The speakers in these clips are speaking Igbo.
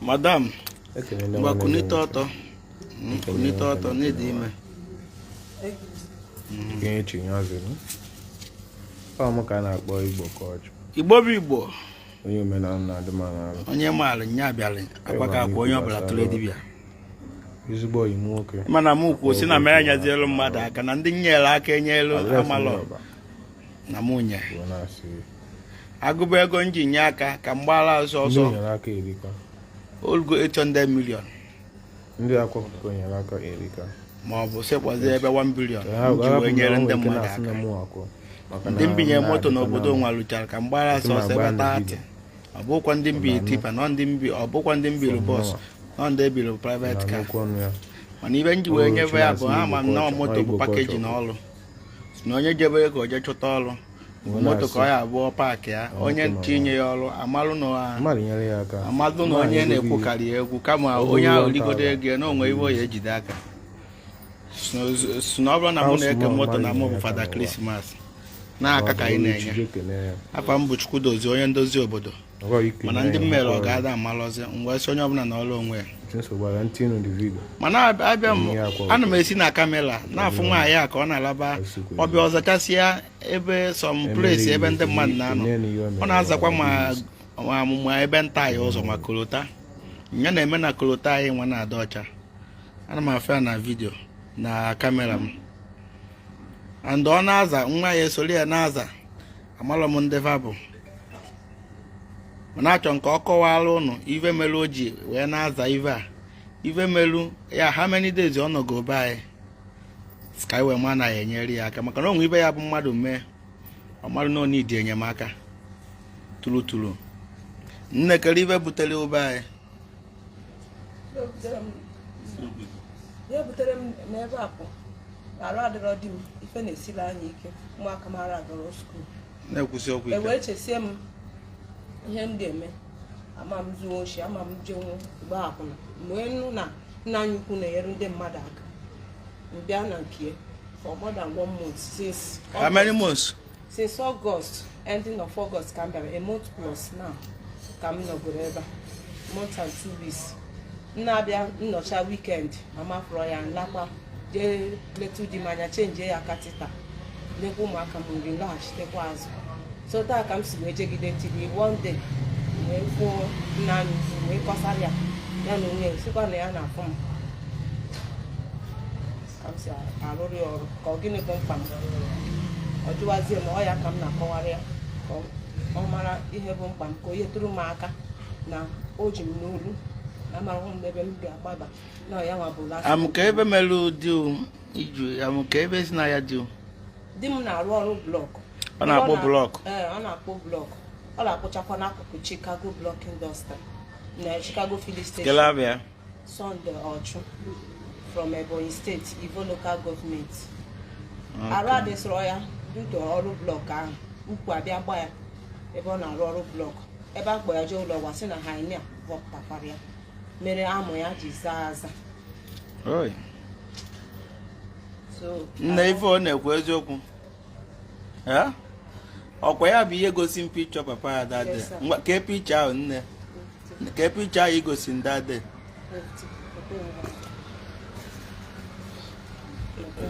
madam ngwa kunite ọtọ hmm, kunite ọtọ na ị dị ime ọmụ ka a na-akpọ igbo ka ọchụ igbo bụ igbo onye omenala na-adị m n'ala onye maara nya bịara akwa ka akwa onye ọbụla tụrụ dibịa ezigbo oyi m nwoke mana m kwuo si na m enyezielu mmadụ aka na ndị m nyere aka enyelu amalọ na m nye agụba ego m ji nye aka ka m gbaara azụ ndị ọzọ nyere aka erika olugo 800 million ndị akwụkwọ nyere aka erika ma ọ bụ sekpọzie ebe 1 billion Ee, ha m ji ga-ahapụ wee na nyere onwe ndị ike mmadụ na-asị na aka mụ akwụ maka na ndị m binye moto na-adịkwa n'obodo na- nwa lụchara ka m gbara Esi m sọsọ agba ebe ndị thirty ọ bụkwa ndị m bi tipa ọ bụkwa ndị m bilu bọs na ndị ebiri private car nnukwu ọnụ ya mana ive m ji wee nyebe ya bụ ha ma na moto bụ package na ọrụ na onye jebe ka o je chọta ọrụ moto ka ọ ya-abụ ọ paakị ya onye tinye ya ọrụ amalụ na amalụ na onye na-ekwukarị ya egwu kama onye ahụ rigodo ego ya na o nwee ive ọ ya-ejide aka si na ọ bụrụ na mụ na-eke moto na mụ bụ Father Christmas na aka ka anyị na-enye afa m bụ Chukwudozie onye ndozi obodo mana ndị m mere ọga ada amalọzi m wee sị onye ọbụla nọrọ onwe ya mana abịa m ana m esi na camera na-afụ nwaanyị a ka ọ na-alaba ọ bịa ọ zachasịa ebe some places ebe ndị mmadụ na-anọ ọ na-azakwa ma amụmụ ebe nta anyị ụzọ ma kolota ya na-eme na kolota anyị nwa na-adị ọcha ana m afụ ya na video na camera m and ọ na-aza nwa ya esoro ya na-aza amalọ m ndị va bụ mana achọ m ka ọ kọwara ụnụ ive melu o ji wee na-aza ive a ive melu ya how many days ọ nọgo be anyị ka anyị wee ma na a ya-enyere ya aka maka na o nwe ive ya-abụ mmadụ mee ọ marụ na ọ need enyemaka true true nne kere ive butere ụ be anyị ihe butere m n'ebe a bụ arụ adịrọ di m ife na-esiri anyị ike ụmụaka m ara agara school wee chesie m ihe m ga-eme ama m zuo oshi ama m jenwu gba akwụna m wee nụ na nna anyị ukwu na-enyere ndị mmadụ aka m bịa na nke ya for more than one month since how many months since August ending of August ka m bịara a month plus now ka m nọgoro ebe a month and two weeks m na-abịa m nọcha weekend ma m afụrọ ya m lakwa jee letu di m anya chenjie ya catheter nyekwa ụmụaka m nri laghachitekwa azụ so taa ka m si wee jegide till one day wee kwuo nna anyị wee kọsara ya ya na onwe ya sikwa na ya na-afụ m arụrụ ya ọrụ ka ọ gịnị bụ mkpa m ọ jụwazie m ọ ya ka m na-akọwara ya ka ọ mara ihe bụ mkpa m ka ihe tụrụ m aka na o ji m n'olu amarahụ m n'ebe m ga-agbaba na ya nwa bụ last amụka ife mere di gị amụka ife si na ya dị di m na-arụ ọrụ blọkụ ọ na-akpụ blọkụ ee ọ na-akpụ blọkụ ọ na-akpụchakwa n'akụkụ Chicago blọk indọstrị na Chicago filling station Sunday Ochu from Ebonyi State, Ivo Local Government. Arụ adịsịrọ ya due to ọrụ blọk ahụ ukwu abịa gba ya ebe ọ na-arụ ọrụ blọk a bịa kpọ ya jee ụlọ ọgwụ a sị na hernia bọpụtakwara ya mere amụ ya ji zaa aza Oi. so nne ife ọ na-ekwu eziokwu Eh? ọkwa ya bụ ihe gosi m picture papa ya daddy Yes, sir. Ngwa, kee picture ahụ nne kee picture ahụ gosi ndị adị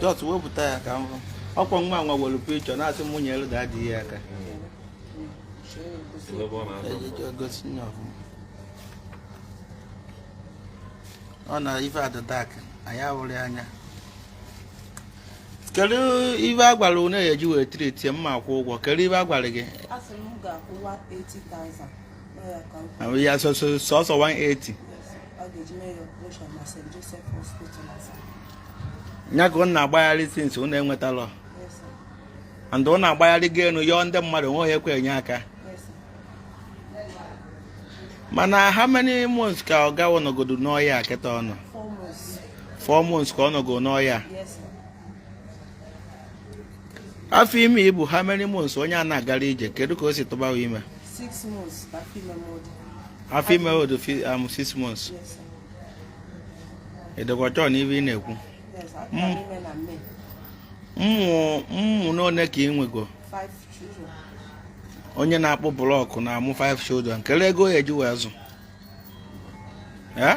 jọt wepụta ya ka m hụ ọkwa nwa nwa were picture na-asị m nwunye elu ga-adị ya aka ejije gosi nye ọfụma ọ na ife adịdak anyị ahụrụ ya anya kedu ife a gwara unu ya eji wee treat mma akwụ ụgwọ kedu ife a gwara gị A sị m m ga-akwụ 180,000 ya sọsọ 180 ya ka ụnụ na-agbagharị since ụnụ enwetarọ and ụnụ agbagharị gị enu yọọ ndị mmadụ nweghị ekwe enye aka mana how many months ka ọ gawa ọ nọgodo n'ọya kịta ọnụ four months ka ọ nọgo n'ọya afọ ime i bu how many months onye a na-agarọ ije kedu ka o si tụbawa ime Six months, afọ ime m dị. Afọ ime dị m six months. Yes, sir. Ị dịkwa sure na ife ị na-ekwu. Yes, sir. Mm. Can women and men. Ụmụ one ka ị nwego. Five children. Onye na-akpụ blọkụ na-amụ 5 children. Kedu ego ya eji wee zụ. Eh?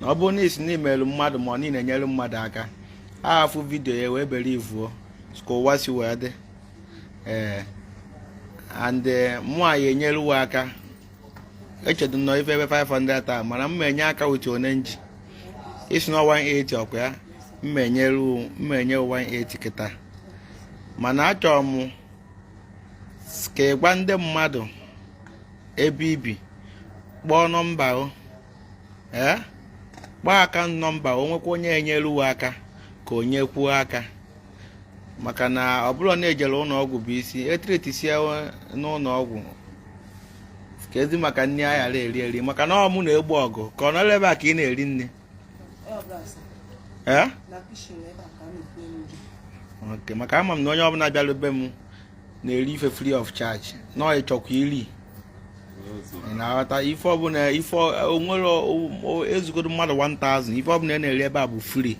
na ọ bụrụ na ị sị na i meere mmadụ ma ọ na enyere mmadụ aka ha fụ vidio ya nwee ebere ị fụ ka ụwa si wee dị ee eh, and eh, mụwa enyerewo aka echedo nọ ife ebe 500 taa mana m ma-enye aka with one nji ị sị na 180 ọkwa ya m ma-enye 180 kịta mana achọrọ m ka ị gwa ndị mmadụ ebe i bi kpọọ nọmba o ee eh? kpọọ akaụnt nọmba o nwekwa onye enyere uwe aka ka o nyekwuo aka maka na ọ bụrụ na ejere ụlọ ọgwụ bụ isi e treatisie n'ụlọ ọgwụ kezi maka nri a ghara eri eri maka na ọ mụ na-egbu ọgụ ka ọ nọrọ ebe a ka ị na-eri nri ee eh? maka ama m na onye ọbụla bịara be m na-eri ife free of charge na ị chọkwa iri ị na-aghọta ife ọbụla ife onwere ezugodo mmadụ 1000 ife ọbụla na-eri ebe a bụ free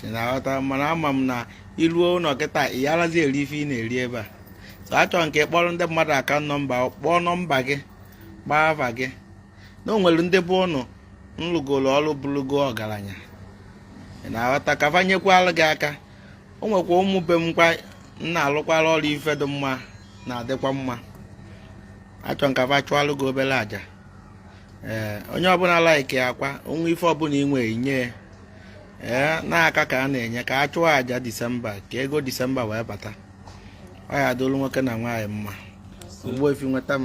ị na-aghọta mana ama m na i ruo ụlọ kịta ị yarazi eri ife ị na-eri ebe a so achọrọ m ka ị kpọọrọ ndị mmadụ akaụnt nọmba kpọọ nọmba gị kpọọ afa gị na o nwere ndị bụ ụnụ lụgoro ọrụ bụrụgo ọgaranya ị na-aghọta ka fa nyekwara gị aka o nwekwa ụmụ be m kwa na-alụkwara ọra ife dị mma na-adịkwa mma achọ m ka fa chụalụ gị obere aja ee onye ọbụla laiki akwa onwe ife ọbụla i nwe i nye ee n'aka ka a na-enye ka a chụọ aja disemba ka ego disemba wee bata ọ ya-adịlụ nwoke na nwaanyị mma ugbo efi nweta m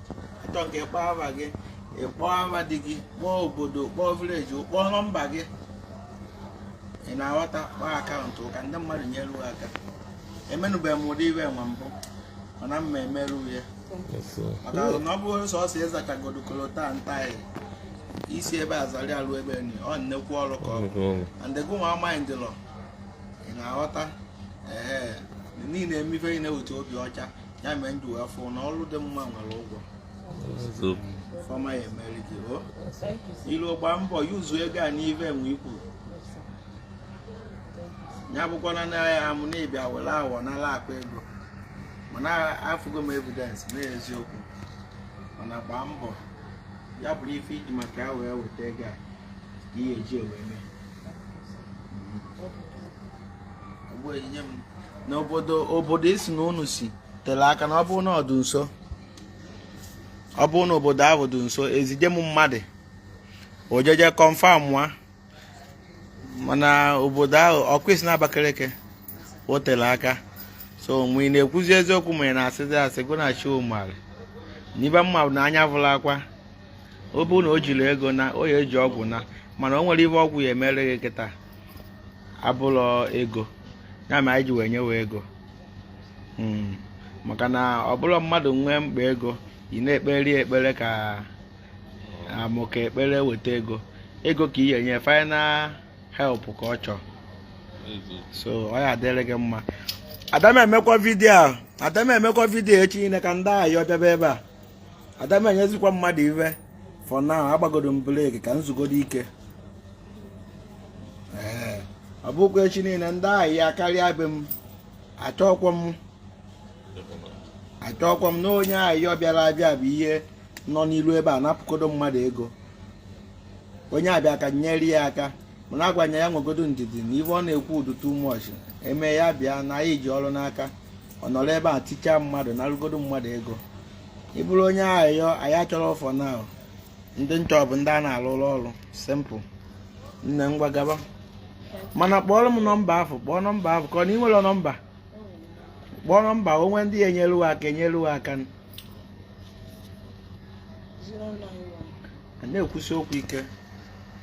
achọ m ka ị kpọọ afa gị ị kpọọ afa di gị kpọọ obodo kpọọ vileji kpọọ nọmba gị ị na-aghọta kpọọ akaụntụ ka ndị mmadụ nyere gị aka emenụbeghị m ụdị ive nwa mbụ mana m ma-emere ya maka na ọ bụrụ sọsọ ịzachagodo kolota ntaị i si ebe azali alụ ebe ni ọ nnekwu ọrụ ka ọ bụ and ego nwa amaghị ndịlọ ị na-aghọta ee ị na-eme ife ị na-ewete obi ọcha ya mere m ji wee fụ na ọrụ dị mma nwere ụgwọ ife ọma ya-emere gị o i rue gbaa mbọ yuzu ego a n'ive nwa i kwuru ya abụkwana na ya amụ na ị bịa were awọ n'ala akpa ego mana afụgo m evidence na eziokwu mana gbaa mbọ ya bụrụ ife i ji maka ya wee weta ego a ka ị ya-eji wee mee n'obodo obodo i sị na unu si tere aka na ọ bụrụ na ọ dị nso ọ bụrụ na obodo ahụ dị nso ezije m mmadụ o jeje kọnfam nwa mana obodo ahụ ọ ka i si na Abakaliki o tere aka so mgbe ị na-ekwuzi eziokwu ma ị na-asịzi asị gụ na chi ụ marị ive m ma bụ na anya vụrụ akwa ọ bụrụ na o jiri ego naa ọ ya-eji ọgwụ naa mana o nwere ive ọgwụ ya-emere gị kịta abụlọ ego ya mere anyị ji wee nyewe ego hmm. maka na ọ bụrụ mmadụ nwee mkpa ego ị na-ekpere ya ekpere ka amụ ka ekpere weta ego ego ka ị ya-enye final help ka ọ chọọ so ọ ya-adịrị gị mma ada m emekwa video a ada m emekwa video echi niile ka ndị ayọ bịaba ebe a ada m enyezikwa mmadụ ive for now agbagodo m break ka m zugodo ike ee ọ bụkwa echi niile ndị ayọ akarịa be m achọkwa m achọkwa m na onye ayọ bịara abịa bụ ihe nọ n'iru ebe a napụkodo mmadụ ego onye a bịa ka e nyere ya aka m na-agwa ya ya nwegodo ndidi na ive ọ na-ekwu dị too much eme ya bịa na anyị ji ọrụ n'aka ọ nọrọ ebe a tichaa mmadụ narụgodo mmadụ ego ị bụrụ onye ayọ anyị achọrọ ọfọ na ndị m chọ bụ ndị a na-alụlụ ọlụ simple nne ngwa gaba mana kpọọrọ m nọmba afụ kpọọ nọmba afụ ka ọ na ị nwere nọmba kpọọ nọmba o nwe ndị ya-enyelu aka enyelu aka a na-ekwusi okwu ike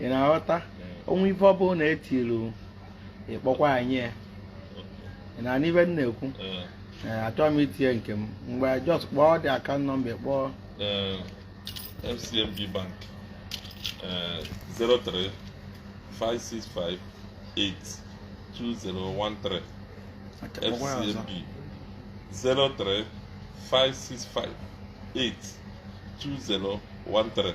ị na-aghọta o nwee ife ọ bụla e tiru ị kpọkwa anyị ị na-anụ ive m na-ekwu Ee, achọghị m itinye nke m mgbe just kpọọ the account nọmba kpọọ Ee, FCMB Bank ee, 03 565 82013 Aka kpọkwa ya ọzọ. FCMB 03 565 82013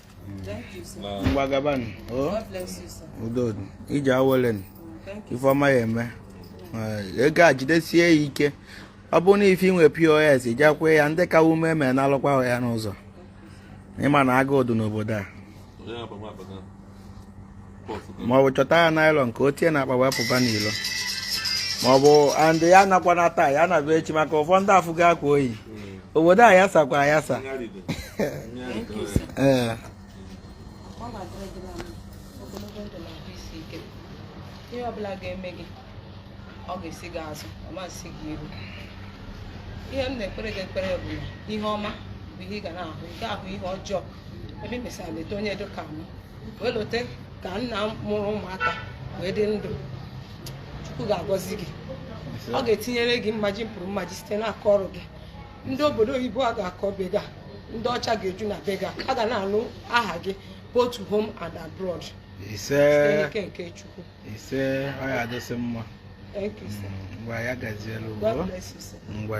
ngwa gabanụ udo ije awele ife ọma ya-eme ego a jidesie ya ike ọ bụrụ na ife ị nwe purse ijakwa ya ndị ka ume eme nalụkwa ya n'ụzọ ị ma na agụụ dị n'obodo a ma ọ bụ chọta ya nylon ka o tie n'akpa wee pụba n'ilo ma ọ bụ and ya anakwana taa ya naba echi maka ụfọdụ afụ ga akwa oyi obodo ayasakwa ayasa ee ihe ọbụla ga-eme gị ọ ga-esi gị azụ ọ ma-esi gị iru ihe m na-ekpere gị ekpere bụ na ihe ọma bụ ihe ị ga na-ahụ ị gaghị ahụ ihe ọjọọ ebe ị mesịrị lota onye dịka m wee lote ka nna mụrụ ụmụaka wee dị ndụ chukwu ga-agọzi gị ọ ga-etinyere gị mmaji kwuru mmaji site n'aka ọrụ gị ndị obodo oyibo a ga-akọ be gị a ndị ọcha ga-eju na be gị a ga na-anụ aha gị both home and abroad ise ike nke chukwu ise ọ ya-adịsị mma thank you sir mm, ngwa ya gazielu god bless you sir ngwa